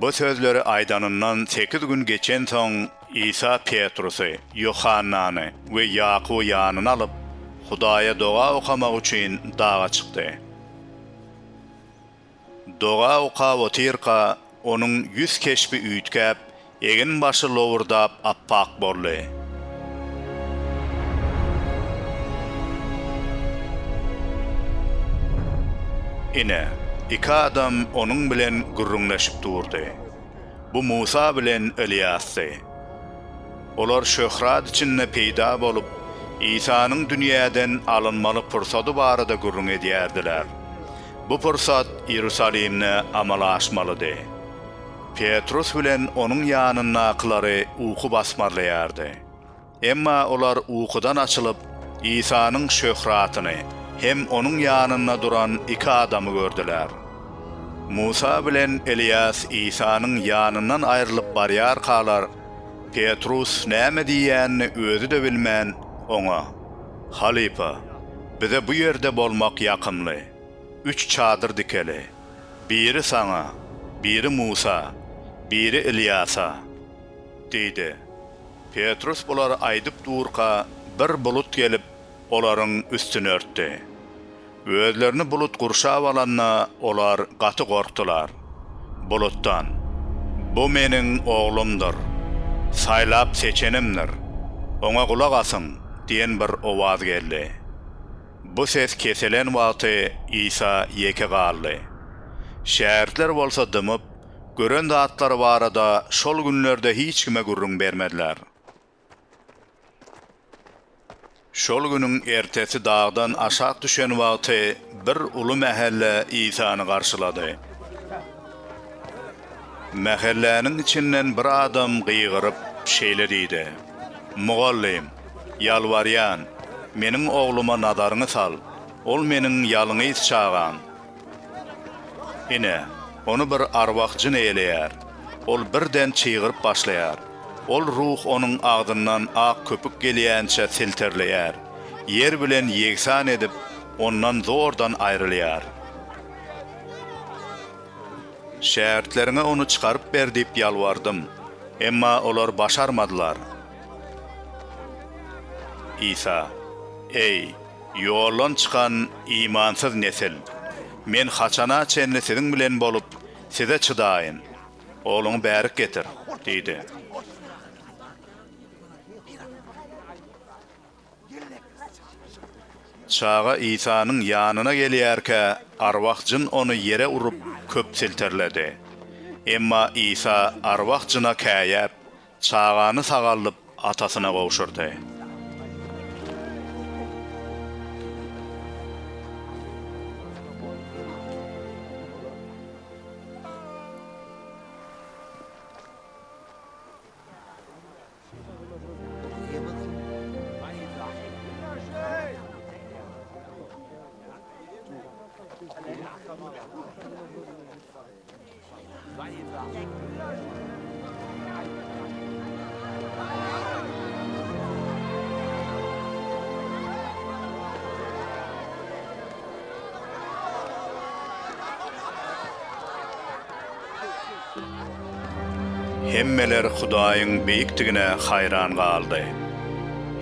Bu sözleri aýdanyndan sekiz gün geçensoň, Isa Petrusy, Ýohannany we Ýakuby ýanyna alyp, Hudaýa doga okamak üçin daga çykdy. Doga okap otyrka, Onuň ýüz keşbi üýtgäp, egin başy lowurdap appak boldy. Ine, iki adam onuň bilen gürrüňleşip durdy. Bu Musa bilen Ylýasdy. Olar şöhrat içinde peýda bolup, Isanyň dünýäden alynmaly pursady barada gürrüň edýärdiler. Bu pursat Iýerusalimde amala aşmalydy. Petrus bilen onuň ýanyndakylary uky basmarlaýardy. Emma olar ukudan açylyp, Isanyň şöhratyny hem onuň ýanynda duran iki adamy gördüler. Musa bilen Eliýas Isanyň ýanyndan aýrylyp barýarkalar, Petrus näme diýýänini özi-de bilmän, oňa. Halypa, bize bu ýerde bolmak ýakymly. Üç çadyr dikeli. Biri saňa, biri Musa, biri Ylýasa, diýdi. Petrus bulary aýdyp durka, bir bulut gelip, olaryň üstüni örtdi. Özlerini bulut gurşap alanda, olar gaty gorkdular. Bulutdan, Bu Meniň Oglumdyr. Saýlap seçenimdir. Oňa gulak asyň! diýen bir owaz geldi. Bu ses kesilen wagty Isa ýeke galdy. Şägirtler bolsa dymyp, gören zatlary barada şol günlerde hiç kime gürrüň bermediler. Şol günüň ertesi dagdan aşak düşen wagty bir uly mähelle Isany garşylady. Mähelläniň içinden bir adam gygyryp, şeýle diýdi, Mugallym, ýalbarýan, meniň ogluma nazaryňy sal, ol meniň ýalňyz çagam. Ine, ony bir arwah jyn eýeleýär. Ol birden çygyryp başlaýar. Ol ruh onuň agzyndan ak köpük gelýänçä silterleýär. Ýer bilen ýegsan edip, ondan zordan aýrylýar. Şägirtleriňe ony çykaryp ber diýip ýalbardym. Emma olar başarmadylar. Isa. Eý! Ýoldan çykan imansyz nesil! Men haçana çenli siziň bilen bolup, size çydaýyn? Ogluňy bärik getir! diýdi. Çaga Isanyň ýanyna gelýärkä, arwah jyn ony ýere urup, köp silterledi. Emma Isa arwah jyna käýäp, Çagany sagaldyp atasyna gowşurdy. Hemmeler Hudaýyň beýikdigine haýran galdy.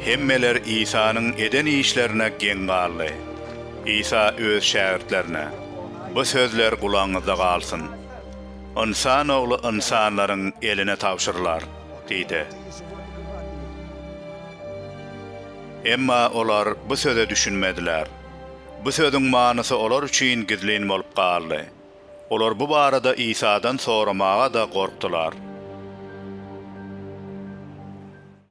Hemmeler Isanyň eden işlerine geň galdy. Isa öz şägirtlerine. Bu sözler gulagyňyzda galsyn. Ynsan Ogly ynsanlaryň eline tabşyrylar diýdi. Emma olar bu söze düşünmediler. Bu sözüň manysy olar üçin gizlin bolup galdy. Olar bu barada Isadan soramaga-da gorkdular.